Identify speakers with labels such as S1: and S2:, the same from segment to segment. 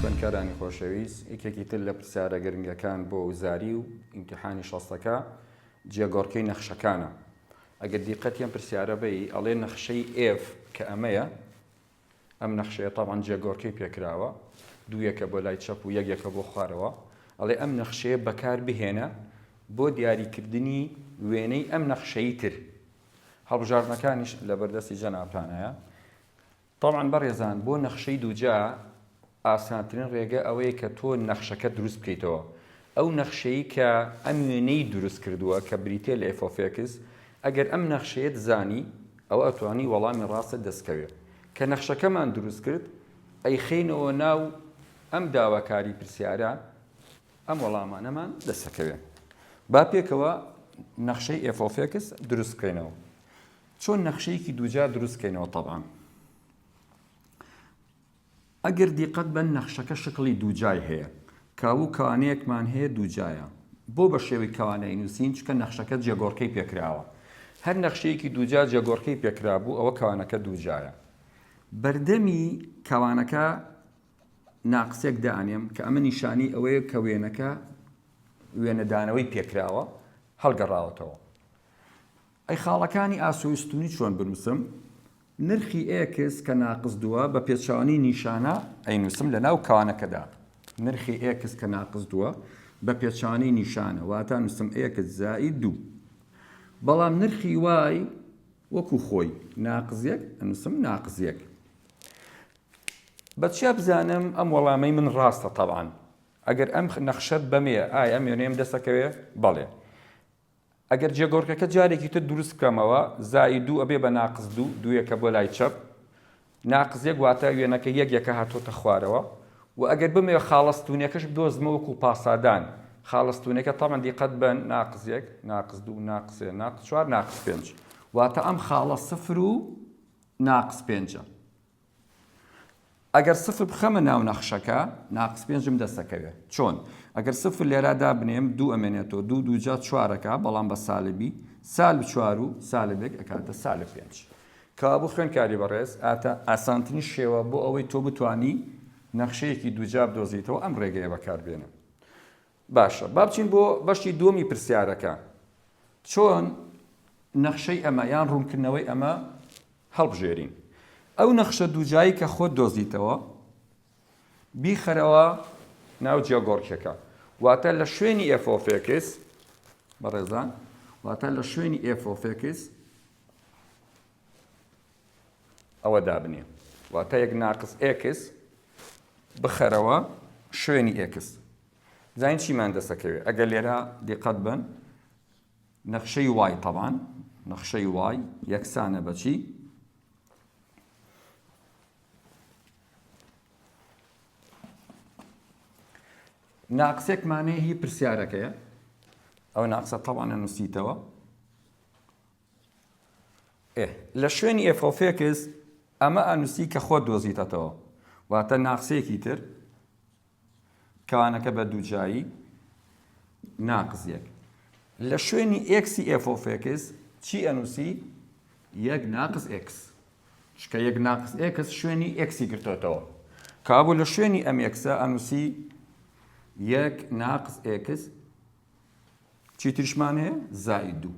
S1: خوێندکارانی خۆشەویست، یەکێکی تر لە پرسیارە گرنگەکان بۆ وزاری و ئیمتیحانی شەستەکە، جێگۆڕکێی نەخشەکانە. ئەگەر دیقەتی ئەم پرسیارە بەی، ئەڵێ نەخشەی F کە ئەمەیە، ئەم نەخشەیە تەبعەن جێگۆڕکێی پێکراوە، دوو یەکە بۆ لای چەپ و یەک یەکە بۆ خوارەوە، ئەڵێ ئەم نەخشەیە بەکار بهێنە بۆ دیاریکردنی وێنەی ئەم نەخشەی تر. هەڵبژاردنەکانیش لەبەردەستی جەنابتانایە. تەبعەن بەڕێزان بۆ نەخشەی دووجا ئاسانترین ڕێگە ئەوەیە کە تۆ نەخشەکەت دروست بکەیتەوە ئەو نەخشەی کە ئەم وێنەی دروست کردووە کە بریتیە لە FOFX ئەگەر ئەم نەخشەیەت زانی ئەوە ئەتوانی وەڵامی ڕاستت دەست کەوێ کە نەخشەکەمان دروست کرد ئەیخەینەوە ناو ئەم داواکاری پرسیارە ئەم وەڵامانەمان دەسەکەوێ با پێکەوە نەخشەی FOFX دروست بکەینەوە چۆن نەخشەیەکی دووجار دروست کەینەوە تەبان ئەگەر دیقەت بەن نەخشەکە شکڵی دووجای هەیە کاوو کەوانەیەکمان هەیە دووجایە بۆ بە شێوەی کەوانەی نووسین چکە نەخشەکە جێگۆڕکەی پێکراوە هەر نەخشەیەکی دووجا جێگۆڕکەی پێکرا بوو ئەوە کەوانەکە دووجایە بەردەمی کەوانەکە ناقسێک دانێم کە ئەمە نیشانی ئەوەیە کە وێنەکە وێنەدانەوەی پێکراوە هەڵگەڕاوەتەوە ئەی خاڵەکانی ئاسۆی ستونی چۆن بنوسم؟ نرخی ئێکس کە ناقس دووە بە پێچەوانەی نیشانە ئەینوسم لە ناو کانەکەدا نرخی ئێکس کە ناقس دووە بە پێچەوانەی نیشانە واتا نوسم ئێکس زائید دوو بەڵام نرخی وای وەکو خۆی ناقس یەک ئەنوسم ناقس یەک بە چیا بزانم ئەم وەڵامەی من ڕاستە تەوان ئەگەر ئەم نەخشەت بەمێ ئایا مێنێم دەسەکەوێ بەڵێ ئەگەر جێگۆڕکێکە جارێکی تر دروست بکەمەوە، زائی دوو ئەبێ بە ناقس دوو، دوویەکە بۆ لای چەپ، ناقس یەک واتە وێنەکە یەک یەکە هاتووەتە خوارەوە و ئەگەر بمەوێ خاڵە ستوونیەکەش بدۆزمەوە وەکوو پاسادان، خاڵە ستوونیەکە تەبعەن دیقەت بەن ناقس یەک، ناقس دوو، ناقس سێ، ناقس چوار، ناقس پێنج. واتە ئەم خاڵە سفر و ناقس پێنجە. ئەگەر سفر بخەمە ناو نەخشەکە ناقس پێنجم دەستەکەوێت چۆن؟ ئەگەر سفر لێرا دابنێم دوو ئەمێنێتەوە دوو دوو جا چوار ئەکا بەڵام بە سالبی سالب چوار و سالب یەک ئەکاتە سالب پێنج کەوابوو خوێندکاری بەڕێز ئاتا ئاسانترین شێوە بۆ ئەوەی تۆ بتوانی نەخشەیەکی دووجا بدۆزیتەوە ئەم ڕێگەیە بەکاربێنە باشە با بچین بۆ بەشی دووەمی پرسیارەکە چۆن نەخشەی ئەمە یان ڕوونکردنەوەی ئەمە هەڵبژێرین ئەو نەخشە دووجایی کە خۆت دۆزیتەوە بیخەرەوە ناو جیۆگۆرکەکە واتە لە شوێنی ئێفۆفێکس بەڕێزان واتە لە شوێنی ئێفۆفێکس ئەوە دابنێ واتە یەک ناقس ئێکس بخەرەوە شوێنی ئێکس زین چیمان دەسەکەوێت ئەگەر لێرە دیقەت بن نەخشەی وای طبعا نەخشەی وای یەکسانە بەچی ناقسێکمانەیە هی پرسیارەکەیە ئەو ناقسە تەوانە نووسیتەوە ئێ لە شوێنی ئێفۆفێکس ئەمە ئەنووسی کە خۆت دۆزیتەتەوە، واتە ناقسێکی تر، کەوانەکە بە دووجایی ناقس یەک. لە شوێنی ئێکسی ئێفۆفێکس چی ئەنووسی؟ یەک ناقس ئێکس. چکە یەک ناقس ئێکس شوێنی ئێکسی گرتۆتەوە. کابوو لە شوێنی ئەم ئێکسە ئەنووسی یەک ناقس ئێکس چی تریشمان هەیە زائید دوو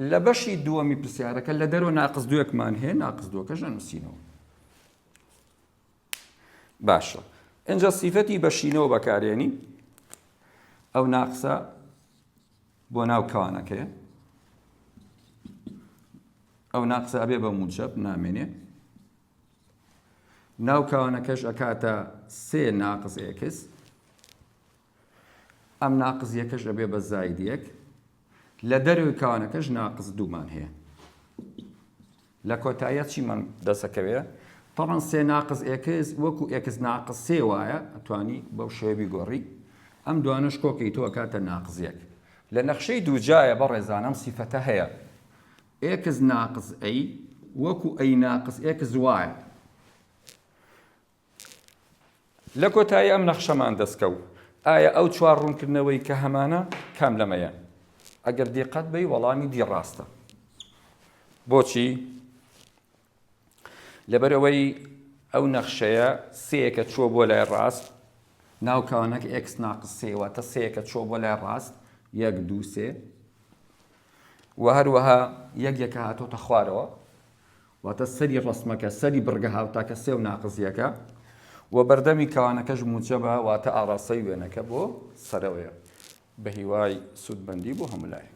S1: لە بەشی دووەمی پرسیارەکە لە دەرەوە ناقز دوێکمان هەیە ناقز دووەکەش نووسینەوە باشە ئەجا سیفەتی بەشینەوە بەکارێنی ئەو ناقسە بۆ ناو کەوانەکەی ئەو ناقسە ئەبێ بە موجب نامێنێ ناو کانەکەش ئەکاتە سێ ناقس ئێکس ئەم ناقز یەکەش ئەبێ بە زاید یەک لە دەروی کانەکەش ناقز دوومان هەیە لە کۆتایە چیمان دەسەکەوێ طبعا سێ ناقز ئێکس وەکو ئێکس ناقز سێ وایە ئەتوانی بەو شێوی گۆڕی ئەم دوانش کۆکەی تۆ کاتە ناقزیەک لە نەخشەی دووجایە بە ڕێزانم سیفەتە هەیە ئێکس ناقس ئەی وەکو ئەی ناقس ئێکس وایە. لە کۆتایی ئەم نەخشەمان دەستکەوت. ئایا ئەو چوار ڕوونکردنەوەی کە هەمانە کام لەمەیەن؟ ئەگەر دیقەت بەی وەڵامی دی ڕاستە. بۆچی؟ لەبەرئەوەی ئەو نەخشەیە سێیەکە چووە بۆ لای ڕاست ناو کەوانەکە ئێکس ناقس سێ واتە سێیەکە چووە بۆ لای ڕاست یەک دوو سێ و هەروەها یەک یەکە هاتۆتە خوارەوە واتە سەری ڕسمەکە سەری بڕگە هاوتاکە سێ و ناقزیەکە و بەردەمی کەوانەکەش موچە بە واتە ئاڕاستەی وێنەکە بۆ سەرەوەیە بە هیوای سوودمەندی بۆ هەموو لایەک.